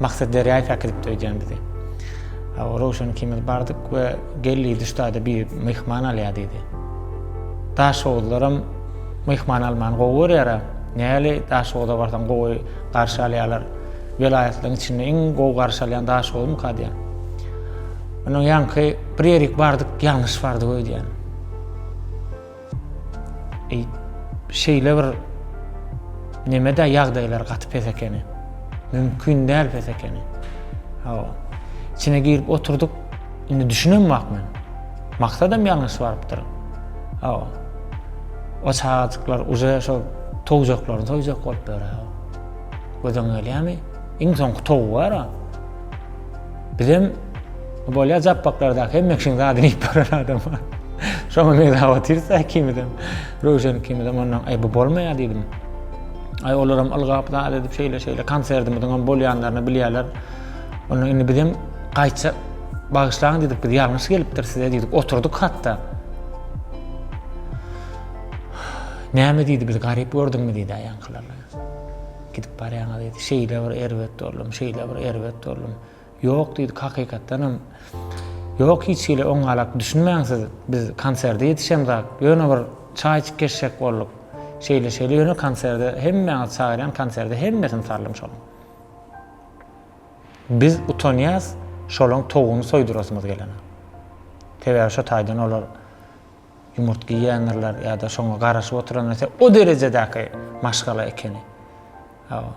Maksat derýaýy päkidipdi öýdýän bizi. Röwşen ikimiz bardyk we geldi duşda-da biri myhman alýar diýdi. Daşoguzlaram myhman almany gowy görýär-ä. Näli Daşoguza barsaň gowy garşy alýarlar. Welaýatlaryň içinde iň gowy garşy alýan Daşoguzmyka diýen. Ondan ýaňky bir ýerik bardyk, ýalňyş bardyk öýdýän. Eý, şeýle bir neme-dä ýagdaýlar gaty pes ekeni. Mümkin däl pes ekeni. Hawa. Içine girip oturdyk. Indi düşünem bak men. Maksadam ýalňyş barypdyr. Hawa. O çagajyklar uje şo towjaklaryny toýjak bolup ýör. Gözüň gelýärmi? Iň soňky towy bar-a. Bizem bolýar japbaklarda hemme kişiň zadyny iýip baran adam. Şoňa mega otyrsa ikimizem. Röwşen ikimizem ondan aý bu bolmaýar diýdim. Aý olaram ylgap zat edip şeýle şeýle konsertimiziň hem bolýanlaryny bilýärler. Onda indi bizem gaýça bagyşlaň diýdik biz ýalňyş gelipdir size diýdik. Oturdyk hatda. Näme diýdi biz garyp gördüňmi diýdi aýankylar. Gidip barýaňa diýdi. Şeýle bir erbet boldum, şeýle bir erbet boldum. Ýok diýdik, hakykatdanam. Ýok, hiç hili oňňalak düşünmäň siz. Biz konserde ýetişemzak. Ýöne bir çaý içip geçjek bolduk. Şeýle-şeýle ýöne konserde hemmäňizi çagyrýan, konserde hemmesini saldym şonuň. Biz utanýas şolaň towugyny soýdurasymyz gelene. Sebäbi şo taýdan olar. Ýumurtga iýýändirler ýa-da şoňa garaşyp oturan näse o derejedäki maşgala ekeni. Hawa.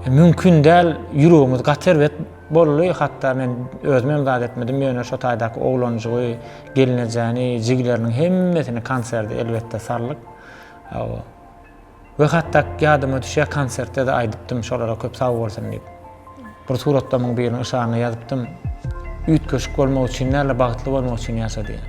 E, mümkin däl, ýüregimiz gaty erbet boldy, hatda men özüm hem zat etmedim, ýöne şo taýdaky oglanjygy, gelnejäni, jigileriniň hemmesini konserde elbetde saldyk. Hawa. We hatda ýadyma düşýär konsertde-de aýdypdym şolara köp sag bolsun diýip. Bir suratlamyň biriniň yşaryna ýazypdym. Üýtgeşik bolmak üçin däl-de bagtly bolmak üçin ýaşa diýen.